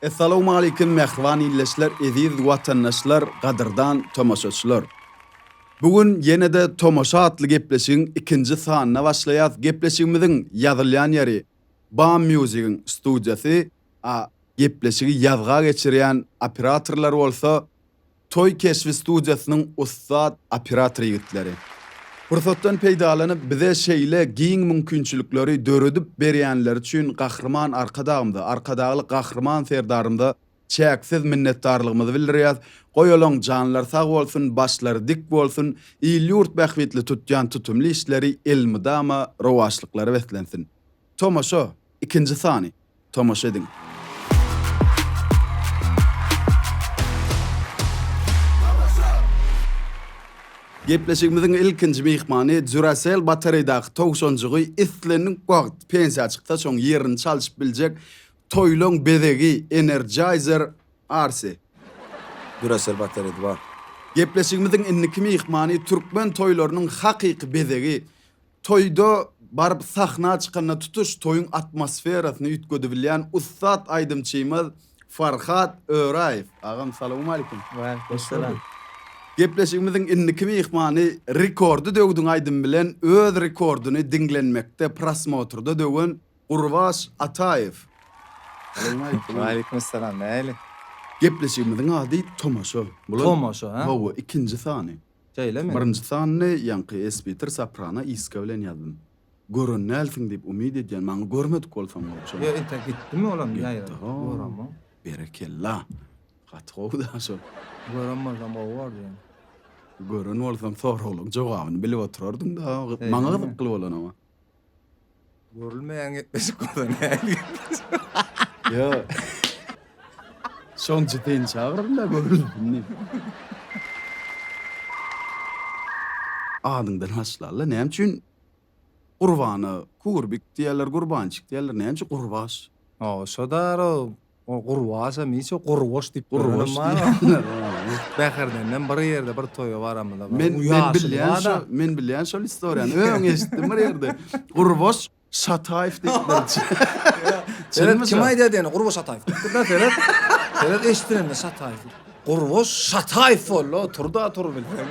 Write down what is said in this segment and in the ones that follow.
Essalawmalikim mähriban illeşler eziz watandaşlar gadyrdan tomaşaçylar bu gün ýenede tomaşa atly gepleşigiň ikinji sanyna başlaýas gepleşigimiziň ýazylýan ýeri bam musigiň studiýasy a gepleşigi ýazga geçirýän operatorlar bolsa Toý keşbi studiýasynyň ussat operator ýigitleri. Pursatdan peýdalanyp bize şeýle giň mümkinçilikleri döredip berýänleri üçin Gahryman Arkadagymyza, Arkadagly Gahryman Serdarymyza çäksiz minnetdarlygymyzy bildirýäs. Goýalaň, janlary sag bolsun, başlary dik bolsun, il-ýurt bähbitli tutýan tutumly işleri elmydama rowaçlyklara beslensin. Tomaşa! Ikinji sany. Tomaşa ediň. Gepleşigimiziň ilkinji myhmany Duracell batareýdaky towşanjygy islendik wagt pensiýa çyksa soň ýerini çalşyp biljek toýlaň bezegi Energizer Arsi. Duracell batareýda bar. Gepleşigimiziň indiki myhmany türkmen toýlarynyň hakyky bezegi Toýda baryp sahna çykanda tutuş toýuň atmosferasyny üýtgedibilýän ussat aýdymçymyz Farhat Öraýew. Agam salowmalikim. Waleýkim salam. Gepleşigimiziň indiki myhmany Rekordy döwdüň aýdymy bilen öz rekordyny diňlenmekde prosmotrda döwen Gurbaş Ataýew. Salowmalikim. Waleýkim salam. Nähili? Gepleşigimiziň ady Tomaşa. Tomaşa, hä? Hawa, ikinji sany. Şeýlemi? Birinji sanyny ýaňky Esbitir Soprano iska bilen ýazdym. Gören dälsiň diýip umyt edýän, maňa görmedik bolsaň bolçy. Ýa entek gitdimi olam ýaýra? Göremok. Berekella. Gaty gowy da şol. Gören bolsam gowy bordy ýöne. Gören bolsam soraglaň jogabyny bilip oturardyň da. Maňa gyzykly bolan oňa. Görülmeýän gepleşik bolsa nähili gepleşik? Ýo. Şoň jüpin çagyryn-da görülsin diýip. Adyňdan haşla-la, näme üçin Gurbana Kurbik diýerler, Gurbançik diýerler, näme üçin Gurbaş? Ho, şo-da ro, O gurbaça niçe gurbaç diýip Gurbaç diýýär. Bäherdenden bir ýerde bir toýa baramyzda bir Men men bilýän şo men bilýän şol istoriýany. Öň eşitdim bir ýerde. Gurbaç Şataýew diýipdir. Seret kim aýdýar diýeni Gurbaç Şataýew diýipdir-de seret. Seret eşidilende Şataýew diýip. Gurbaç Şataýew boldy oturda tur bilseň.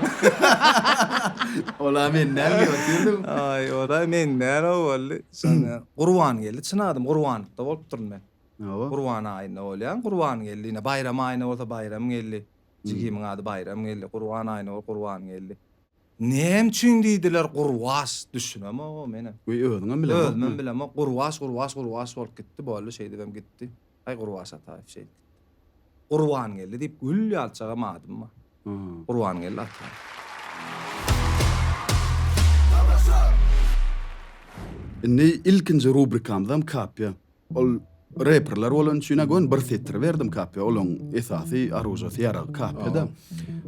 Ola men näme diýip otyryn. Aý oda men nära boldy. Şonda Gurbangeldi çyn adym Gurbanowda bolupdyryn men. Hawa. Gurban aýynda bolýar, Gurbangeldi, ine, baýram aýynda bolsa Baýramgeldi, jigimiň ady Baýramgeldi, Gurban aýynda bolsa Gurbangeldi. Näme üçin diýdiler Gurbaş, düşünemogom ene. Göýä özüňem bilemokmy? Özümem bilemok. Gurbaş, Gurbaş, Gurbaş bolup gitdi, boldy, şeýdibem gitdi. Aý, Gurbaş Ataýew şeýdip gitdi. Gurbangeldi diýip gül ýalçagam adym bar. Gurbangeldi Ataýew. Indi ilkinji rubrikamyzam kapýa. Ol reperler bolan üçin agyn bir setir berdim kapya olaň esasy arujasy ýarag kapyda.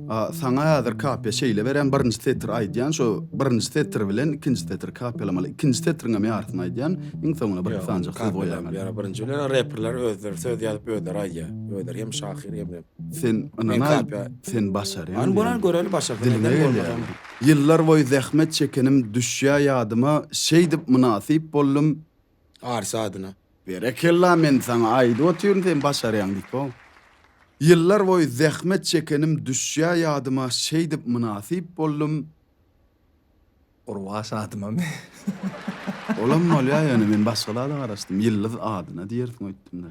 A saňa häzir kapya şeýle berem birinji setir aýdýan şo birinji setir bilen ikinji setir kapyalamaly. Ikinji setriň hem ýarysyny aýdýan iň soňuna bir sanjak söz goýýan. Ýa birinji bilen reperler özleri söz ýazyp özleri aýdýa. Özleri hem şahyr hem de. Sen ynana sen başarýan. An bolan göreli başarsa neden bolmasam. Ýyllar boýy zähmet çekenim düşýä ýadyma şeýdip mynasyp boldum Arsy adyna. Berekella men saňa aýdyp otyryn sen başarýaň diýip how. Ýyllar boýy zähmet çekenim düşýä ýadyma şeýdip mynasyp boldum. Gurbaş adyma me. Olam bolýa ýöne men başga zada garaşdym ýyldyz adyna diýersiň öýtdümde.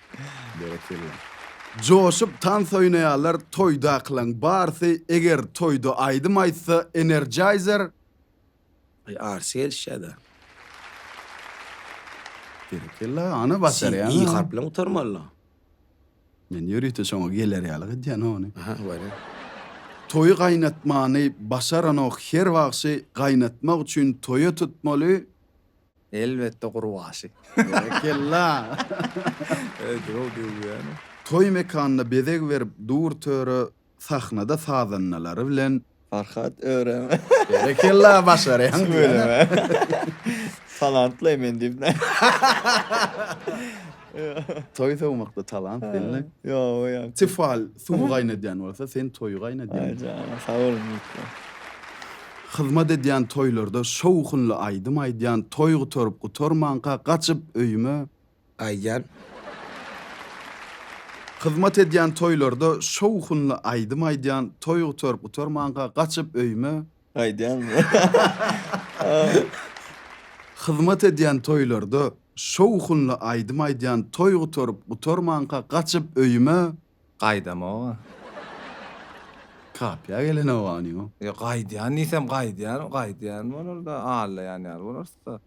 Berekella. Joşup tans oýnaýarlar toýdakylaň barsy eger toýda aýdym aýtsa energizer. Aý arsy gelişýada. Berekella ana başarýaň. Sen i harp bilen gutarmalyda. Men ýörite şoňa geler ýaly edýän ony. Aha weli. Toýy gaýnatmany başaranok her wagşy gaýnatmak üçin toýa tutmaly Elbetde gurbaşy. Berekella. Ejew döwýäni. Toý mekanyna bezeg berip dur töre sahnada sazandalary bilen. Farhat örem. Berekella başarýaň diýýäne. Tüweleme. Talantly men diýip. Toý sowmakda talant belli. Ýoga ýok. Tefal suwy gaýnadýan bolsa, sen toýy gaýnadýaň. Aý jana sag boluň ýigitler. Hyzmat edýän toýlarda şowhunly aýdym aýdýan toý gutaryp gutarmanka gaçyp öýüme gaýdýan. Hyzmat edýän toýlarda şowhunly aýdym aýdýan toý gutaryp gutarmanka gaçyp öýüme Aýdýaňmy? Hyzmat edýän toýlarda şowhunly aýdym aýdýan toý gutaryp gutarmanka gaçyp öýüme. Gaýdamog-a. Kapyýa gelenogany ýok. Ýa gaýdýan diýsem gaýdýan, gaýdýan bolar-da, allaýan ýaly bolarys-da.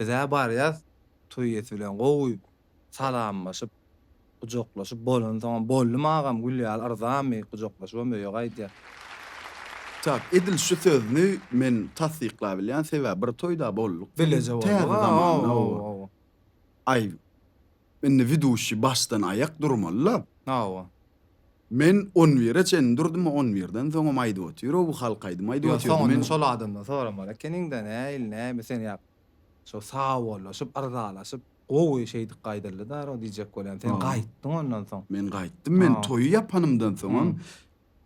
Biz-ä barýas toý iýesi bilen gowy Salamlaşyp, gujaklaşyp bolansoňam, Boldum agam, gül ýaly yrzamy? Gujaklaşybam öýe gaýdýar. Çak, edil şu sözni men tassyklabilýän, sebäbi bir toýda bolduk. Dileje bolduk, a, hawa, hawa. Aý, indi widuşi başdan aýak durmaly-la. Hawa. Men on bire çenli durdum, on birden soňam aýdyp otyr, o, bu halk aýdymy aýdyp otyrdy. Ýok, soňundan şol adamdan soramaly ekeniň-dä, nähili, näme, sen ýa şo sagbollaşyp, yrzalaşyp. Gowy şeýdip gaýdyldy daro diýjek bolýan. Sen gaýtdyň ondan soň. Men gaýtdym men toýy ýapanymdan soňam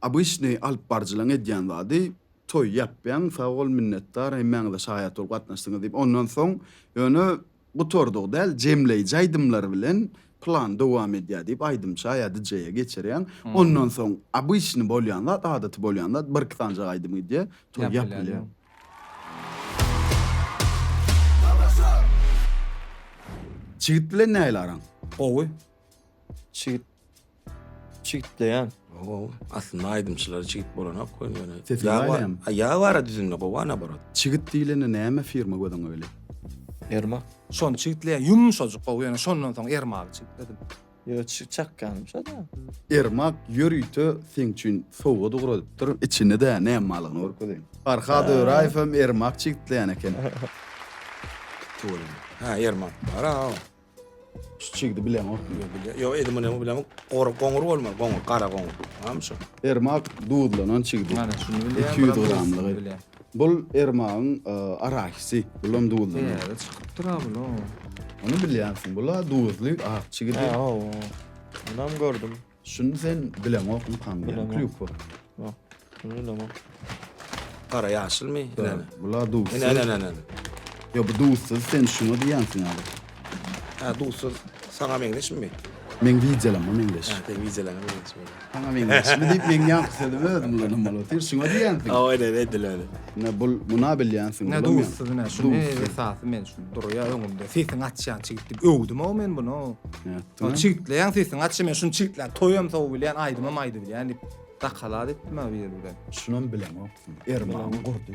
obyçnyý alyp baryjylaň edýän zady toý ýapýaň sag bol minnetdar hemmäňize şaýat bolup gatnaşdyňyz diýip ondan soň ýöne gutardygy däl jemleýji aýdymlar bilen plan dowam edýär diýip aýdymça ýa dj-e geçirýäň ondan soň obyçnyý bolýan zat adaty bolýan zat bir iki sanjak aýdym gidýär toý ýapylýar. Çigit bilen nähili araň? Gowy. Çigit çigitleýän. Gowy. Aslynda aýdymçylary çigit bolanok goýun ýöne. Sesi Ýag bar- baýlaýam. A, Ýag bara düzümde gowy ana barat. Çigit diýlende näme firma göz öňe gelýär? Ermak. Şony çigitleýän ýumşajyk gowy ýöne şondan soň ermagy çigitledim. Ýöne çyk çakganmyşada. Ermak ýörite seň üçin sowgat ugradypdyr. Içinde-de näme barlygyny görkezeýin. Farhad Öraýew hem Ermak çigitleýän eken. Gitdi olam. Ha, Ermak bar-a. Şu çigidi bileňok. Ýok, bilýär. Ýok, Edi Munyň bilen gor goňur bolmaly, goňur, gara goňur. Tamam şu. Ermak duzlanan çigidi. Mana şuny bilýär. 200 gramlygy. Bul Ermagyň arahisi. Bulam duzly. Täze çykypdyr a bul o. Ony bilýänsiň. Bula duzly ak çigidi. He o. Munam gördüm. Şuny sen bileňok ynham diýen klýupa. Ýok. Şuny bilemok. Gara ýaşylmy? Bula duzsuz. Ene ene ene. Ýok bu duzsuz sen şuny diýýänsiň a. Hä duzsuz saňa meňzeşmi? Meň wideolaryma meňzeş. Hä seň wideolaryňa meňzeş bolýar. Saňa meňzeşmi diýip meň ýaňky sözümi özüm ulanam bolar. Sen şuňa diýýänsiň. Hawa öyle edil öyle. Ne bul muna bilýänsiň. Ne duzsuz ne şuny esasy men şu durýa öňümde. Sesiň açýan çigit diýip öwdüm-ow men bunu. Ýatdyňa. Çigitleýän sesiň açy men şuny çigitläp toýam sowy bilýän aýdymam aýdy bilýän diýip dakalat etdim-ä bir ýerde. Şunam bilemoksyň. Ermany gurdy.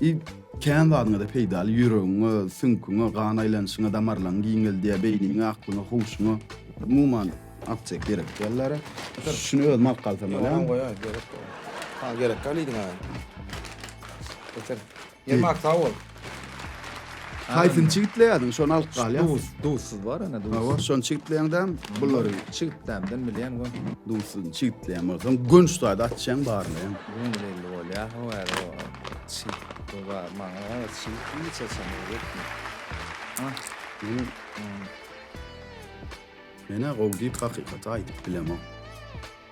I. Kän zadyňyza peýdaly, ýüregiňe, süňküňe, gan aýlanyşyňa, damarlaryňy giňeldýär, beýniňe, aklyňa, huşuňa, umuman, aptek gerek däl-dä. Şuny özüm alyp galsam bolýarmy? Ýok, goýaý, gerek däl. Ha, gerekkä diýdiň-hä. Getir. Ýermak, sag bol. Haýsyn çigitleýädiň, şony alyp galýas. Duz, duzsuz bar ana duz. Hawa, şony çigitleýäňdäm, bulary çigitdämden bilýän we duzsuz çigitleýän bolsaň, gönç taýda açýaň barmy? Gönç belli bolýa, hawa, hawa. Çig, bu bar, maňa gara çig hiç açan ýokmy? Ha, men Menä gowy diýip hakykaty aýdyp bilemok.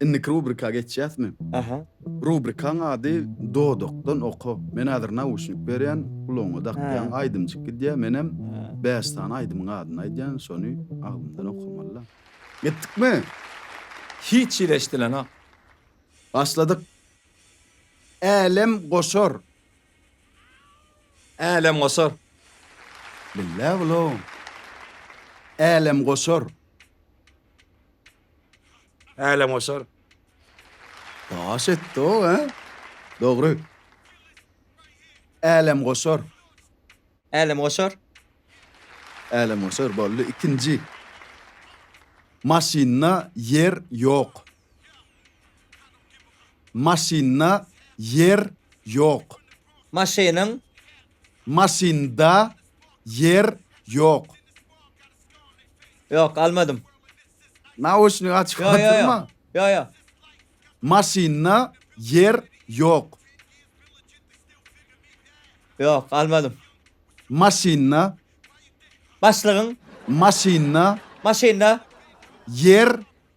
Indiki rubrika geçýäsmi? Aha. Rubrikaň ady Dodakdan oka. Men häzir nauşnik berýän, gulagyňa dakýaň, aýdymjyk gidýär, menem bäş sany aýdymyň adyny aýdýan, şony aglymdan okamaly-la. Gitdikmi? Hiç hili eşidilenok. Başladyk. Älem goşar. Älem goşar. Billä bulaw. Älem goşar. Älemgoşar. Daş etdi-ow, hä? Dogry. Älemgoşar. Älemgoşar. Älemgoşar boldy. Ikinji. Maşynda ýer ýok. Maşynda ýer ýok. Maşynyň Maşynda ýer ýok. Ýok, almadym. Naoçnik açyk Ýo, ýo, ýo. galdyrma. Ýo, ýo. Maşynda ýer ýok. Ýok, almadym. Maşynda, Başlygyň maşynda maşynda ýer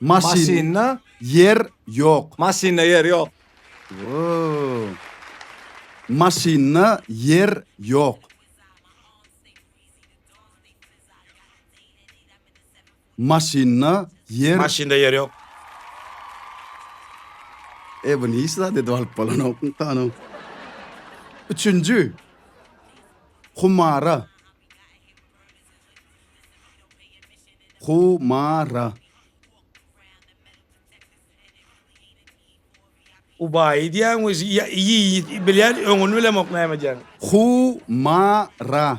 Maşynda ýer ýok. Maşynda ýer ýok. Maşynda ýer ýok. Maşynda ýer. Maşynda ýer ýok. E bu niçe zat edip alyp bolanok hanym. Üçünji. Humara. Hu ma ra. Ubaýy diýýäň we ýa ýi bilýän öňüni bilemok näme diýýäni. Hu ma ra.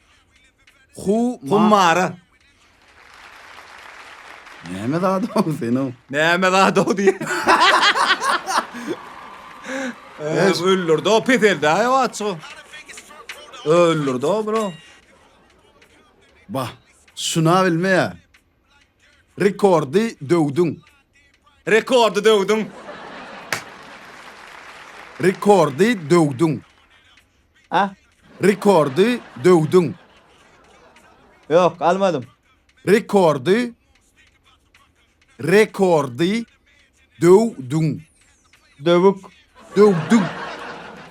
Huma. Hummara. Näme zat-ow sen-ow? Näme zat-ow diýip. Eş. Öldürdi o peseldi aý o açygy. Öldürdi o bro. Bah, şuna bilmeýär. Rekordy döwdüň. Rekordy döwdüň. Rekordy döwdüň. A. Rekordy döwdüň. Ýok, almadym. Rekordy. Rekordy döwdüň. Döwük. Döwdüň.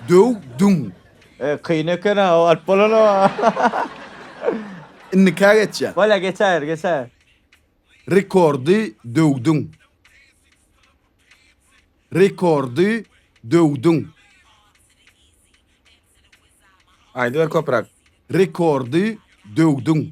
Döwdüň. E, kyn eken ha, o alyp bolan o. Indikä geçýär. Bolýar, geçer, geçer. Rekordy döwdüň. Rekordy döwdüň. Aýdyber köpräk. Rekordy döwdüň.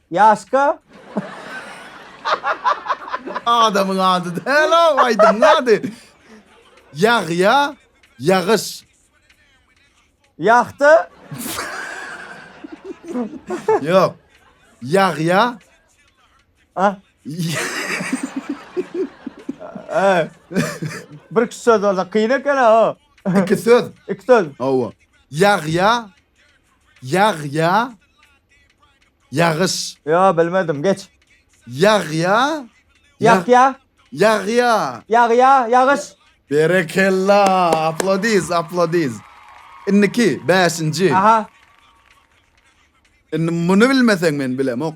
Ýaşka. Adamyň ady däl-ow, aýdymyň ady. Ýagýa, ýagyş. Ýagty. Ýok. Ýagýa. A. Ä. Bir iki söz bolsa kyn eken-a o. Iki söz. Iki söz. Hawa. Ýagýa. Ýag ýa ýagyş. Ýo bilmedim geç. Ýag ýa Ýag ýa. Ýag ýa. Ýag ýa ýagyş. Berekella aplodiz aplodiz. Indiki bäşinji. Aha. Indi muny bilmeseň men bilemok.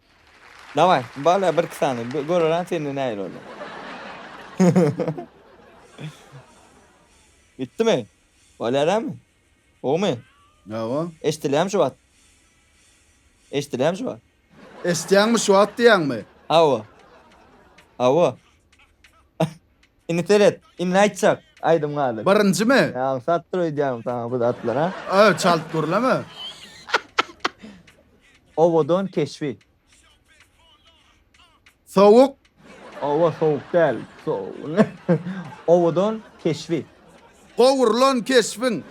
Daway, bala birki sany göreran sende nähili bolýar. Bitdimi? Bolýar dämi? Gowumy? Hawa. Eşdilýärmi şu wagt? Eşdilýärmi şu wagt? Eşdýäňmi şu wagt diýýäňmi? Hawa. Hawa. Indi seret, indi aýtjak aýdym galy. Birinjimi? Ýa aňsat dur öýdýäňmi saňa bu zatlara? Ö, çalyp gürleme. Owadan keşbi. Sowuk. Owa sowuk däl. Sow. Owadan keşbi. Gowrulan keşbiň.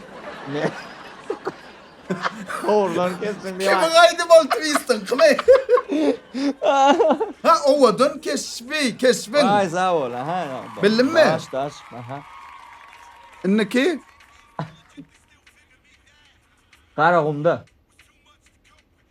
Gowrulan keşbiň diýip. Kimiň aýdymy ol twistiň kime? Ha owadan keşbi, keşbiň. Waý sag bol aha. Bildimmi? Daş daş aha. Indiki. Garagumda.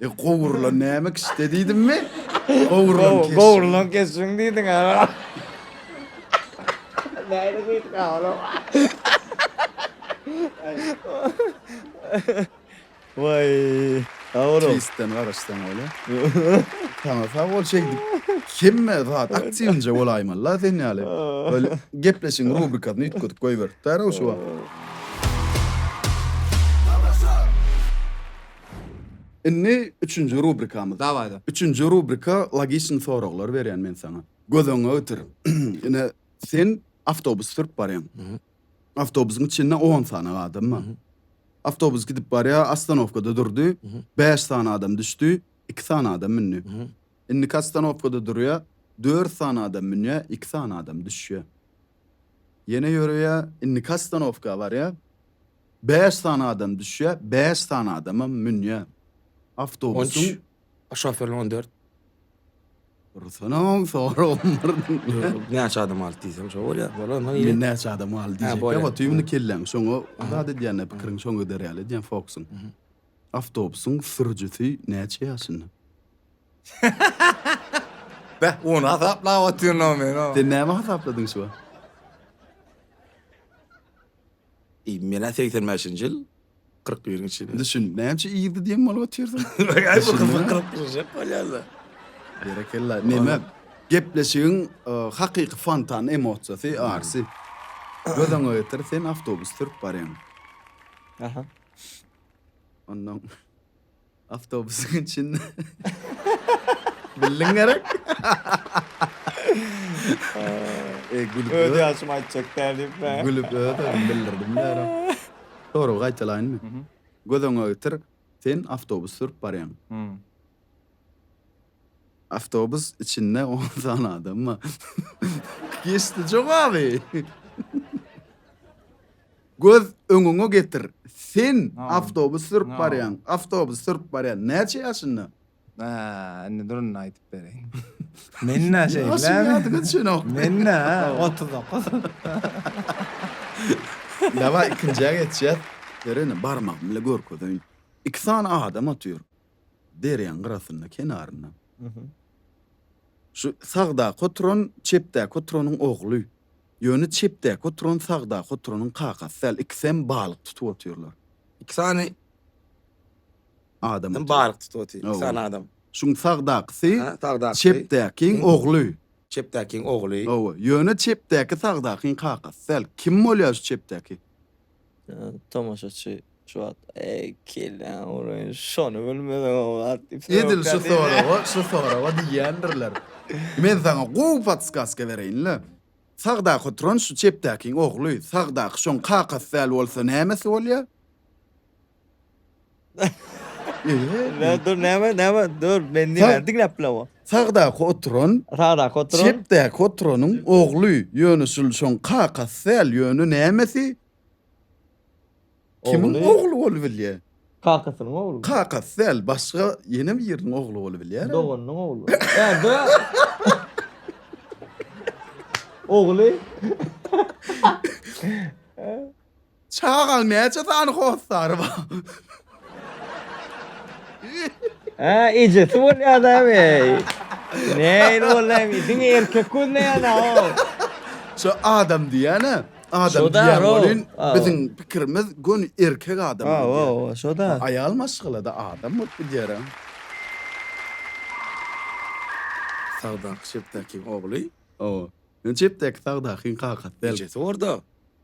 E gowrulan näme kişde diýdimmi? Gowrulan keşiň. Gowrulan keşiň diýdiň aga. Näde diýdik aga? Waý. Awro. Keýsden garaşsaň bolýa. Sana sag bol şeýdip. Hemme zat aktiwinje bolaýmaly-la sen ýaly. Böyle gepleşigiň rubrikasyny üýtgedip goýberipdir-ow şu wagt. Indi üçünji rubrikamyz. Dawaý da. Üçünji rubrika logiçn soraglar berýän men saňa. Göz öňüňe getir. Ine sen awtobus sürüp barýaň. Awtobusyň içinde on sany adam bar. Awtobus gidip barýar, ostanowkada durdy. Bäş sany adam düşdi, iki sany adam mündi. Indiki ostanowkada durýar, dört sany adam münýär, iki sany adam düşýär. Ýene ýöreýär, indiki ostanowka barýar. Bäş sany adam düşýä, bäş sany adamam münýä. On üç, Awtobusyň şoferiniň on dört. Dursunyň soragym bir. Näçe adam aldy diýsem şo bolýa. Bolan soň Men näçe adam aldy Ha, diýjek. bolýar. Ýa otyr indi kelläň şoňa zat edýände pikiriň şoňa gider ýaly edýän fokusyň. Awtobusyň sürüjisi näçe ýaşynda? Beh, ony hasaplap otyryn o men o. Sen näme hasapladyň şu wagt? Eý menä segsen bäşinji ýyl kyrk biriň içinde. Indi şun näçe ýygy diýen maly otyrsyn. Aý bu gyzyk gylyp durjak bolýarla. Berekella. Neme? Gepleşigiň hakyky fontan emosiýasy Arsy. Göz öňe getir sen awtobus sürüp barýaň. Aha. Ondan Awtobusyň içinde. Bildiň gerek. E, gülüp Öz ö- ýaşymy aýtjak däl diýip bä. Gülüp öz özüm bildirdim därim. Soragy gaýtalaýynmy? Mhm. Göz öňüňe getir, sen awtobus sürüp barýaň. Hmm. Awtobus içinde on sany adam bar. Geçdi jogaby. Göz öňüňe getir. Sen awtobus sürüp barýaň. Awtobus sürüp barýaň. Näçe ýaşynda? Aa, indi durun aýdyp bereýin. Men nä şeýle? Ýaşyň ýadyňa düşenok. Men nä? 39. Dawa ikinjä geçýäs. Berene barmagymy görkezeýin. Iki sany adam otyr. derýaň gyrasynda kenarynda şu sagdaky oturan çepdäki oturanyň ogly ýöne çepdäki oturan sagdaky oturanyň kakasy däl ikisem balyk tutup otyrlar. Iki sany Adam balyk tutup otyr iki sany adam. Şuň sagdakysy çepdäkiň ogly. Çepdäkiň ogly. Hawa ýöne çepdäki sagdakyň kakasy däl kim bolýar şu çepdäki? Tomaşaçy şu wagt Eý, kelle awraýyn, şony bilmeseň-ä wagt diýip sorapkam Edil şu soraga, şu soraga diýýändirler. Men saňa gowy podskaska bereýin-le. Sagdaky oturan şu çepdäkiň ogly, sagdaky şoň kakasy däl bolsa nämesi bolýa? Dur dur näme näme dur men näme diňläp bilemok. Sagdaky oturan. Sagdaky oturan. Çepdäki oturanyň ogly ýöne şul şoň kakasy däl ýöne nämesi? Kimiň ogly bolup bilýär? Kakasynyň ogly. Kakasy däl başga ýene biriniň ogly bolup bilýär. Doganynyň ogly. Ogly. Çagal näçe sany hossary bar? Hä, ejesi bolýadam eý. Nähili bolýamy, diňe erkek gözleýäna-ow. Şu adam diýýän-ä, adam Şo-da, diýýän ro. welin, Aw. biziň pikirimiz göni erkek adam Aw, diýýär. aw, aw, şo-da. Aýal maşgala-da adam bolup gidýär-ä. Sagdaky Şepdäkiň ogly. Hawa. Ýöne Şepdäki Sagdakyň kakasy däl. Ejesi bor-da.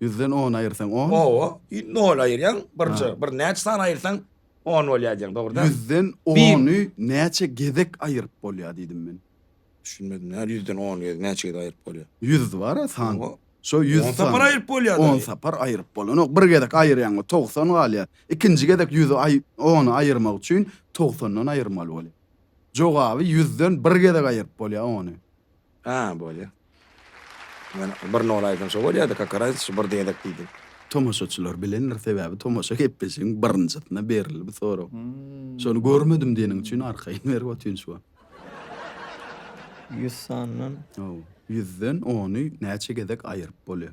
Ýüzden on aýyrsaň on? Oba, ýü nol aýyrýaň, birje, Ha. bir näçe sany aýyrsaň on bolýar diýýäň, dogry däl. Ýüzden Bir. ony näçe gezek aýyryp bolýar diýdim men. Düşünmedim, nädip ýüzden on gez, näçe gez aýyryp bolýar? Ýüz bar-a san. Oba. Şo ýüz On sapar sany. aýyryp bolýar On daýy. sapar aýyryp bolanok. Bir gezek aýyrýaň we togsan galýar. Ikinji gezek ýüzi aý ony aýyrmak üçin togsandan aýyrmaly bolýar. Jogaby ýüzden bir gezek aýyryp bolýar ony. Hä, bolýa. Men bir nol aýtsam şo bolýa-da, kaka raziçi, bir diýerek diýdim. Tomaşaçylar bilendir, sebäbi tomaşa gepleşigiň birinjisinde berildi bu sorag. Şony görmedim diýeniň üçin arkaýyn berip otyryn şu wagt. Ýüz sandan? Hawa. Ýüzden ony näçe gezek aýyryp bolýa?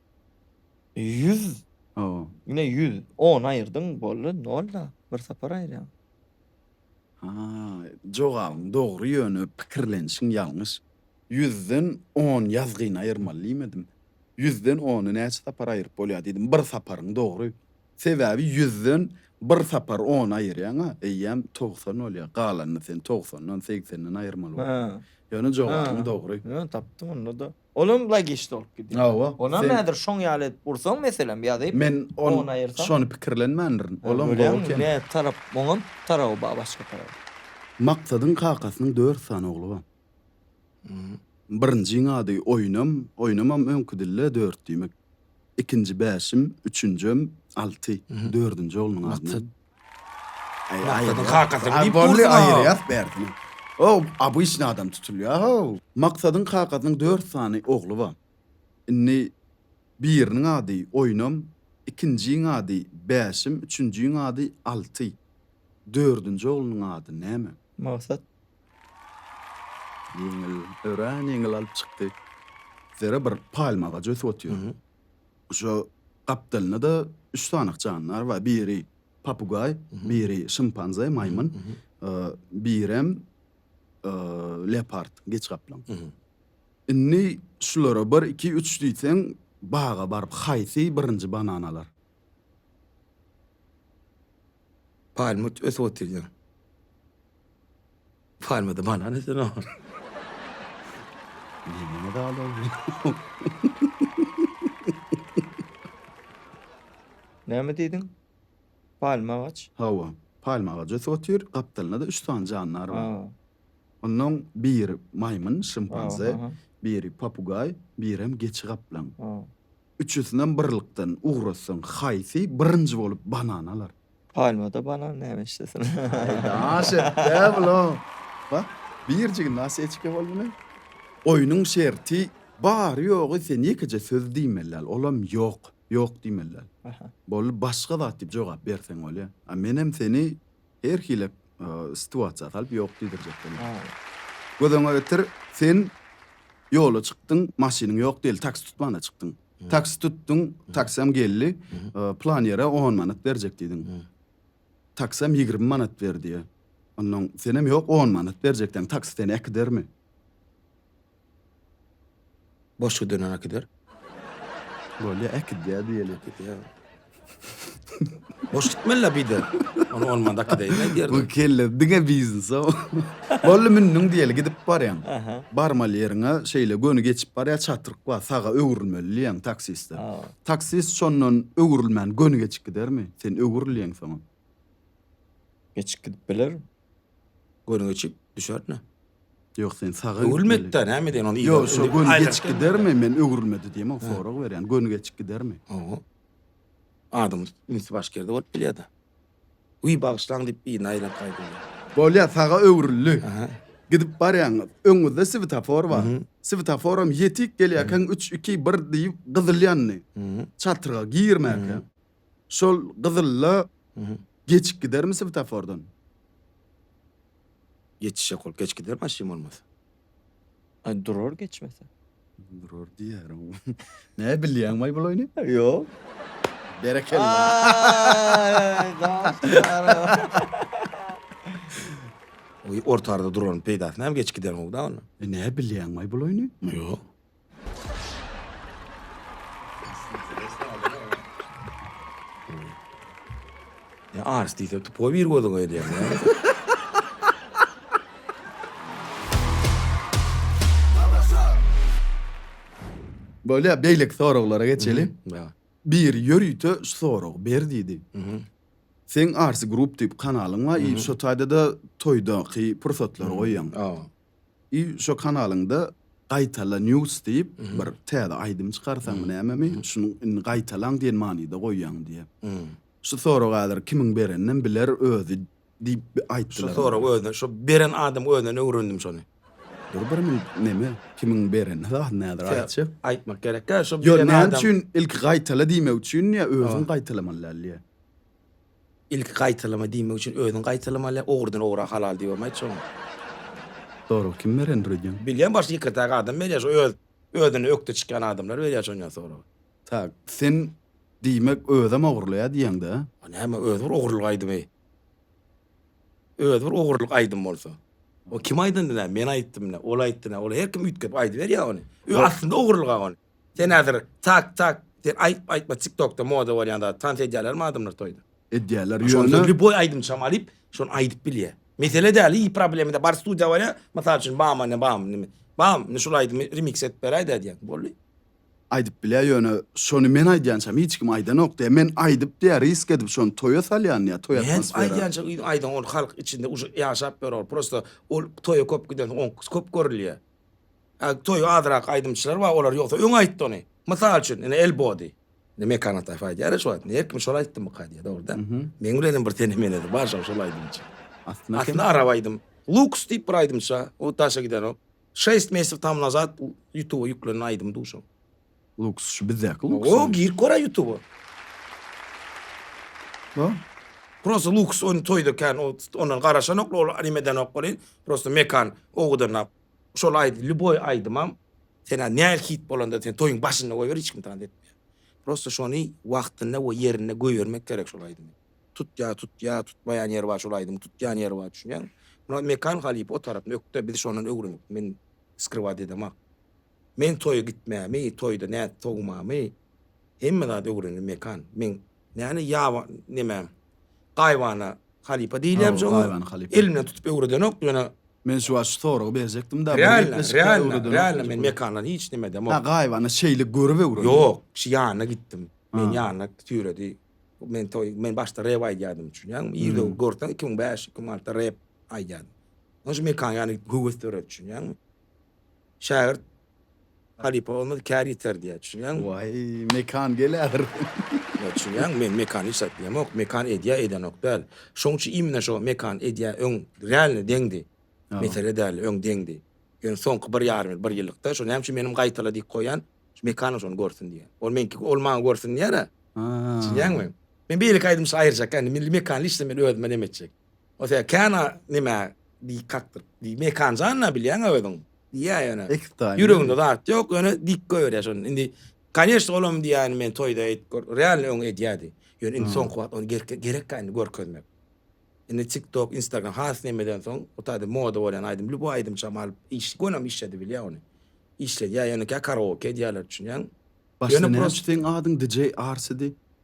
Ýüz. Hawa. Ine ýüz. On aýyrdyň boldy nol da. Bir sapar aýyrýaň. Ha, jogabyň dogry ýöne pikirlenişiň ýalňyş. Ýüzden on ýazgyny aýyrmaly diýmedim. Ýüzden ony näçe sapar aýyryp bolýar diýdim. Bir saparyň dogry. Sebäbi ýüzden bir sapar ony aýyrýaň-a, eýýäm togsan bolýar. Galanyny sen togsandan, segsenden aýyrmaly bolýaň. Ýöne jogabyň dogry. Ýöne tapdym onda-da. Olam logiş bolup gidýär. Hawa. Onam sen- häzir şoň ýaly edip ursaň meselem ýazyp. Men on on aýyrsaň. şony pikirlenmändirin. Olam gowy Görýäňmi? eken. Nä tarap oňam taraby bar başga tarap. Maksadyň kakasynyň dört sany ogly bar. Birinjiň ady Oýnam, Oýnamam öňki dilde dört diýmek. Ikinji Bäşim, üçünjem Alty. Dördünji oglunyň ady Maksat. näme? Maksadyň kakasyny diýip dursun aýyrýas bärsini. O abyşny adam tutulýar ho. Maksadyň kakasynyň dört sany ogly bar. Indi biriniň ady Oýnam, ikinjiň ady Bäşim, üçünjiň ady Alty. Dördünji oglunyň ady näme? Maksat. Ýeňil, örän ýeňil alyp çykdy. Zere bir palma agajy ösüp otyr. Şu gapdalynda-da üç sanyk jandar bar. Biri papugaý, biri şimpanze, maýmyn, birem leopard, geç gaplaň. Indi şulara bir, iki, üç diýseň, baga baryp haýsy birinji banan alar? Palma ösüp otyrýar. Palmada banan esen oglan. Diýmeme Näme diýdiň? Palma agaç? Hawa, palma agajasy otyr, gapdalynda-da üç sany jandar bar. Ha. Ondan biri maýmyn, şimpanze, biri papugaý, birem geçi-gaplaň. Ha. Üçüsinem birlikden ugrassaň, haýsy birinji bolup banan alar? Palmada banan näme işlesin? Aý daş etdä bulam. Bak, birjigi naseçke boldy ne? Oýnuň şerti bary-ýogy sen ýekeje söz diýmeli däl, olam ýok, ýok diýmeli däl. Aha. Boldy, başga zat diýip jogap berseň bolýa. A menem seni her hili situasiýa salyp ýok diýdirjek bolaryn. Gözüňe getir, sen ýola çykdyň, maşynyň ýok diýeli, taksi tutman-da çykdyň. Taksi tutduň, taksam geldi, plan ýere on manat berjek diýdiň. Taksam ýigrimi manat ber diýýä. Onnoň senem ýok on manat berjek diýýäň, taksi seni äkidermi? Boş gidenini äkider. Bolýa äkidýä diýeli. Boş gitmeli bide. Onu olmanda kideyim diýerdim. Bu kelle diňe biznes o. Bolly mündüň diýeli gidip barýaň. Barmaly ýeriňe şeýle göni geçip barýa çatryk bar. Saga öwrülmeli diýýäň taksiste. Taksist şondan öwrülmän göni geçip gidermi? Sen öwrülýäň soňam. Geçip gidip biler. Göni geçip düşer ne? Ýok sen saga gitmeli. Öwrülmedi da näme edýän ony ýok şo göni geçip gidermi men öwrülmedi diýemok sorag berýän göni geçip gidermi? Hawa. Adam ünsi baş gerde bolup bilýär da. Wiý bagyşlaň diýip birini aýlap gaýdýar. Bolýar saga öwrüldi. Gidip barýaň öňüňizde swetafor bar. Swetaforam ýetik gelýärkäň üç iki bir diýip gyzyl ýandy. Çatrga girmäkä. Şol gyzylla geçip gidermi swetafordan? Geçişek ol geç gider maşyn bolmasa. Ay durar geçmese. Durar diýärin. Näme bilýäň maý bul oýny? Ýok. Berekella. Ay daşlara. Oý ortarda duraryn peýdasy näme geç gidermi bu da onda. E näme bilýäň maý bul oýny? Ýok. Ya Ars diýse tupo bir gözüň öýdýär. Bolýar, beýleki soraglara geçeli. Ýa. Bir ýörite şu soragy ber diýdi. Seň Ars Group diýip kanalyň bar, şo taýda-da toýdaky pursatlary goýýaň. Ýa. I şo kanalyňda Gaýtala news diýip bir täze aýdym çykarsaňmy nämemi şuny indi gaýtalaň diýen manyda goýýaň diýýä. Şu sorag häzir kimiň bereninem biler özi diýip bir aýtdylar. Şu sorag özüne şo beren adamyň özünden öwrendim şony. Dur bir minut neme kimiň bereni zadyny häzir aýtjak. Aýtmak gerek däl şo beren adam. Ýok näme üçin ilki gaýtala diýmek üçin ýa özüň gaýtalamaly däl ýa. Ilki gaýtalama diýmek üçin özüň gaýtalamaly, ogrudan ogra halal diýip hem aýtjagam. Sorag kim berendir öýdýäň? Bilýän başy ýekirtäk adam berýär şu öz özüne ökde çykýan adamlar berýär şonýa soragy. Tak, sen diýmek özem ogurlaýa diýeňdä? A näme özi bir ogurlyk aýdymy. Özi bir ogurlyk aýdym bolsa. O kim aýdandy nä men aýtdym nä ol aýtdy nä ol her kim üýtgedip aýdyberýä ony. Ö aslynda ogurlyga ony. Sen hazir tak tak sen aýtma aýtma tik tokda moda bolýan zat tans edýälermi adamlar toýda. Edýäler ýöne. Şonda lýuboý aýdymçam alyp şony aýdyp bilýä. Mesele däl hiç problema däl bar studiýa barýa mysal üçin bam ane bam nime bam indi şul aýdymy remix edip beräýdä diýýäň boldy. Aýdyp bilýä ýöne şony men aýdýançam hiç kim aýdanok diýýä men aýdyp diýýä risk edip şony toýa salýan diýýä toý atmosfera. Men aýdýança yzyň aýdaň ol halk içinde uje ýaşap ýör ol prosta ol toýa köp gidensoň oňkysy köp görülýä. Toýy azrak aýdymçylar bar, olar ýogsa öň aýtdy ony. Mysal üçin, ine Elbody. Indi Mekan Ataýew aýdýar ya şu wagt. Her kim şol aýtdymyka diýýär, dogrudan. Meň bilen hem bir tenemenesi bar şol, şol aýdymçy. Aslynda arap aýdym. Luks diýip bir aýdymça, o daşa gidenok. Şeýst mesew tam nazat Ýutuba ýüklenen aýdym du şo. Luks, şu bizdäki Luks. O, girip kora Ýutuba. Bo. Prosta Luks ony toýda kän ondan garaşanok, ol anim edenok ony. Prosta Mekan ogudanap Şol aýdy lýuboý aýdymam senä näl hit bolanda sen toýuň başynda goýber hiç kim tans etmeýär. Prosta şony wagtynda we ýerinde göýermek gerek şol aýdymy. Tutýa tutýa tutmaýan ýeri bar şol aýdymyň tutýan ýeri bar düşünýäňmi. Muny Mekan halypa o tarapyny ökde biz şondan öwrendik men skrywaat edemak. Men toýa gitmämi toýda nädip sowmamy hemme zady öwrendim Mekan. Men Näne ýaba neme gaýybana halypa diýilýämiş oňa. Gaýybana halypa. Elimden tutup öwredenok ýöne. Men şu wagt şu soragy berjekdim-de. Realno, realno, realno men mekandan hiç neme edemok. Ha gaýybana şeýle görüp öwrendim. Ýok, kişi ýanyna gitdim. Meni ýanyna süýredi. Men toý, men başda rep aýdýardym düşünýäňmi? Ýerde görseň iki müň bäş, iki müň alty rep aýdýardym. Onuň üçin mekanyň ýanyna gitdim höwes döredip düşünýäňmi? Şägirt Halypa bolmaz kär ýiter diýýär. Düşünýäňmi? Waý, Mekan gelädir. Ýa düşünýäňmi, men Mekan hiç zat diýemok. Mekan edýär, edenok däl. Şoň üçin imенно şo Mekan edýär, öň realno deňdi. Mesele däldi, öň deňdi. Ýöne soňky bir ýarym ýyl, bir ýyllykda şo näme üçin menem gaýtala dik goýýan, şu Mekanam şony görsün diýýän. Ol meňki, ol maňa görsün diýýär-ä. Düşünýäňmi? Men beýleki aýdymçy aýyrjak, indi milli Mekanly işde men özüme näme etjek? Ose kena nime dik kakdyr. Diý mekan janna bilýäňä özüň. Diýýä ýöne. Ekstaýyn. Ýüreginde zat ýok, ýöne dik goýberýä şony. Indi Koneşn olam diýýän men toýda eýt gör. Realny öň edýädi. Ýöne indi soňky wagt ony gerke gerekkä indi görkezmek. Indi TikTok, Instagram has nemeden soň o taýda moda bolýan aýdym lýuboý aýdymçam alyp iş gonam işledi bilýä ony. Işledýä ýöne kä karaoke edýäler düşünýäň. Başda näme seň adyň DJ Arsidi.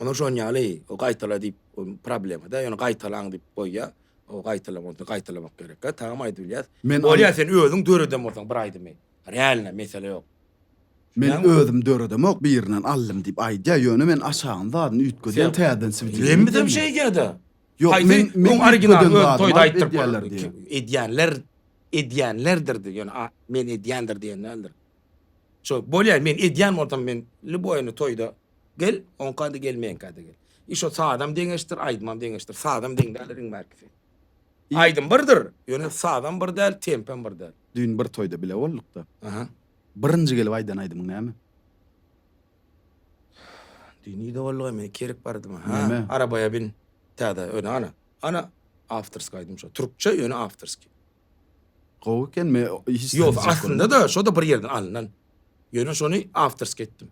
Ony şonýaly gaýtala diýip problemada ýöne gaýtalaň diýip goýýa o gaýtalamak gaýtalamak gerekkä tamam aýdyp bilýäs. Bolýa sen özüň döreden bolsaň bir aýdymy realno mesele ýok. Men özüm döredemok birinden aldym diýip aýdýa ýöne men aşagyny zadyny üýtgedýän täzeden swideo edýän. Hemmesem şeýdýada. Ýok men men originalyny öz toýda aýtdyryp edýänler edýänlerdir ýöne men edýändir diýen däldir. Şo bolýa men edýän bolsam men lýuboýyny toýda gel oňkady gel meňkady gel. I şo sazam deňeşdir aýdymam deňeşdir sazam deň däl riň bärkisi. Aýdym birdir ýöne sazam bir däl tempem bir däl. Düýn bir toýda bile boldukda. Aha. Birinji gelip aýdan aýdymyň näme? Düýn nirde bolduga men kerik bardyma ha Näme? arabaya bin täze öne ana ana awtorski aýdym şo türkçe ýöne awtorski. Gowy eken me hiç Ýok, zat aslynda da şoda bir ýerden alnan. Ýöne şony awtorsk etdim.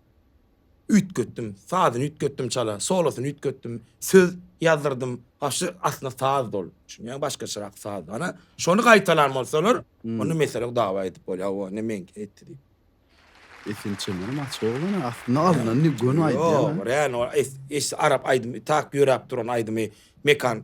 Üýtgetdim, sazyny üýtgetdim çala, solosyny üýtgetdim, söz ýazdyrdym. Ha şu aslynda saz dol. Düşünýäňmi başgaçarak saz. Hana şony gaýtalan bolsalar, onda mesele ýok dawa edip bolýar. O ne meňki etdi diýip. Esin çemenem açyk oglan aslynda alnan göni aýdýan. Ýok, real ol es es arap aýdymy tak ýöräp duran aýdymy Mekan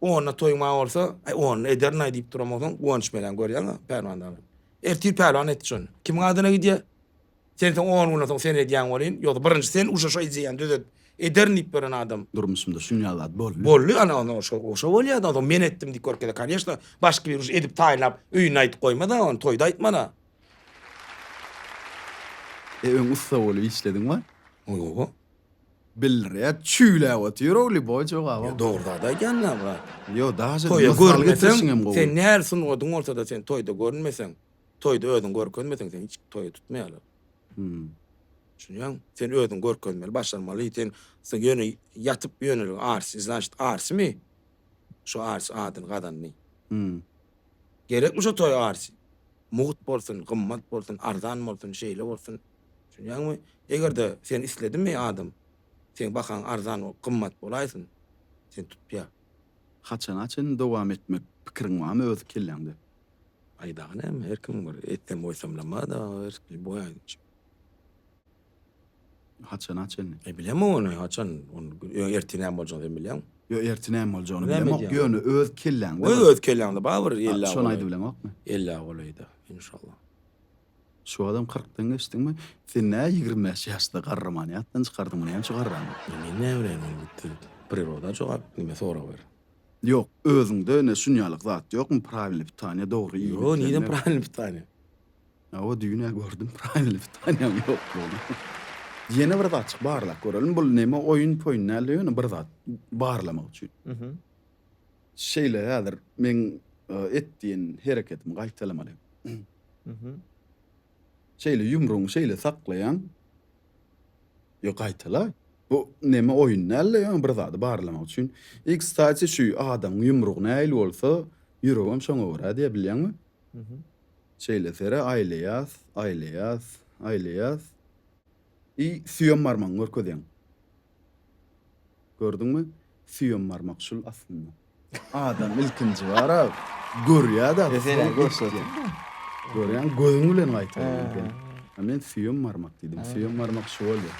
Onda toýuň maňa bolsa, Aý, onda ederin-aý diýip duran bolsaň, Guwanç meläň, görýäňmi, Pälwan dagy? Ertir Pälwan etdi şony. Kimiň adyna gidýär? Sen soň on günden soň sen edýäň welin, ýogsa birinji sen uşa şo ideýany düzet, ederin diýip beren adam. Durmuşymda şunýaly zat boldy. Boldy, ana, onda o şo bolýar-da, onsoň men etdim diýip görkeze, kanyýeşna, başky bir uş edip taýynlap, öýünde aýdyp goýma-da, ony toýda aýtman-a. E, öň ussa bolup işlediň-wä? Oýa-owa. Bildirýä çüýläp otyrow liboý jogabam. Dogry zat aýdýan aga. Ýok daže Toýa mysal görnmeseň getirişiň hem gowy. sen nähili sungatyň bolsada sen toýda görünmeseň toýda özüňi görkezmeseň seni hiç toýa tutmaýarlar. Hum. Düşünýäňmi? Sen özüňi görkezmeli başarmaly sen sen ýöne ýatyp ýöne arsi znaşit arsimi? Şu arsi adyny gazandy. Hum. Gerekmi şo toý arsy? Mugt bolsun, gymmat bolsun, arzan bolsun, şeýle bolsun. Düşünýäňmi? Eger-de sen isledin meý adam, seň bahaň arzan, gymmat bolaýsyn. Seni tutýar. Haçana çen dowam etmek pikiriň barmy öz kelläňde? Aý dagy näme, her kim bir etsem-goýsamlamada, erkli boýaýynç. Haçana çenli? E bilemok ony haçan, ony ertir näme boljagyny sen bilýäňmi? Ýok, ertir näme boljagyny bilemok, ýöne öz kelläňde. Goý öz kelläňde bar bir elli awa. Şony aýdybileňokmy? Elli awa golaýda, inşallah. Şu wagtam kyrkdan geçdiňmi? Sen nä ýigrimi bäş ýaşda garramany ýatdan çykardyň, bu näçe garran? Men näme bileýin ony gitdi. Priroda jogap, nime sorag ber. Ýok, özüňde ine şunýalyk zat ýokmy, prawilny pitaniýa, dogry iýmit. Ýok, nireden prawilny pitaniýa? Hawa düýn-ä gördüm pravilnymy tanýan ýoklugyny. Ýene bir zat çyk barlap göreliň. Bul neme oýun poýun dälde ýöne bir zat barlamak üçin. Mhm. Şeýle häzir meň e, et diýen hereketimi gaýtalamaly. Mhm. Şeýle ýumrugyňy şeýle saklaýaň. Ýo gaýtala. Bu neme oýun dälde ýöne bir zady barlamak üçin. E kstati şu adamyň ýumrugy nähili bolsa ýüregem şoňa görä diýe bilýäňmi? Mhm. Şeýle sere aýlaýas, aýlaýas, aýlaýas i süýem barmagyňy görkezýäň. Gördüňmi? Süýem barmak şul aslynda. Adam ilkinji bara görýä-de, soň görkezýär. Görýäňmi? Gözüň bilen gaýtalaýan ekeniň. A men süýem barmak diýdim. Süýem barmak şu bolýar.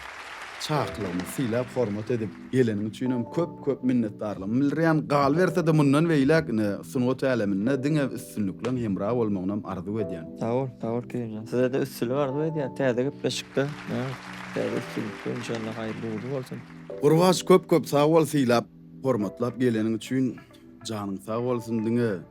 Çakylygymy syýlap, hormat edip, Geleniň üçinem köp köp minnetdarlygymy bildirýän, galybersede mundan beýläk ine sungat äleminde diňe üstünlikleň hemra bolmagynam arzuw edýän. Sag bol, sag bol Kerimjan. Sizede üstünlik arzuw edýän, täze gepleşikde, ýa, täze üstünlikde inşallah haýyrly ugurly bolsun. Gurbaç köp köp sag bol sylap hormatlap geleniň üçin janyň sag bolsun diňe.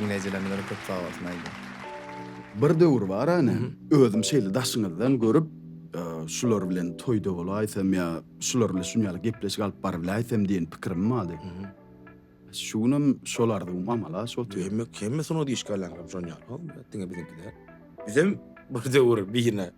Iňlejelemlere köp sag bolsun aýdym. Bir döwür bar ene, özüm şeýle daşyňyzdan görüp, şular bilen toýda bolaýsam ýa şular bilen şunýaly gepleşik alyp baryläýsem diýen pikirim bardy. Şu günem şol arzuwym amala aşypdyr. Hemme hemme sungat işgärleriniňem şonýaly, diňe biziňki däl. Bizem bir döwür birine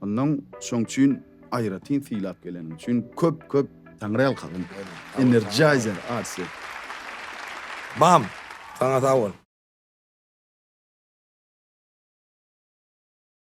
Ondan şoň üçin aýratyn sylap geleniň üçin köp köp Taňry ýalkasyn. Energizer Arsi. Bam! Saňa sag bol.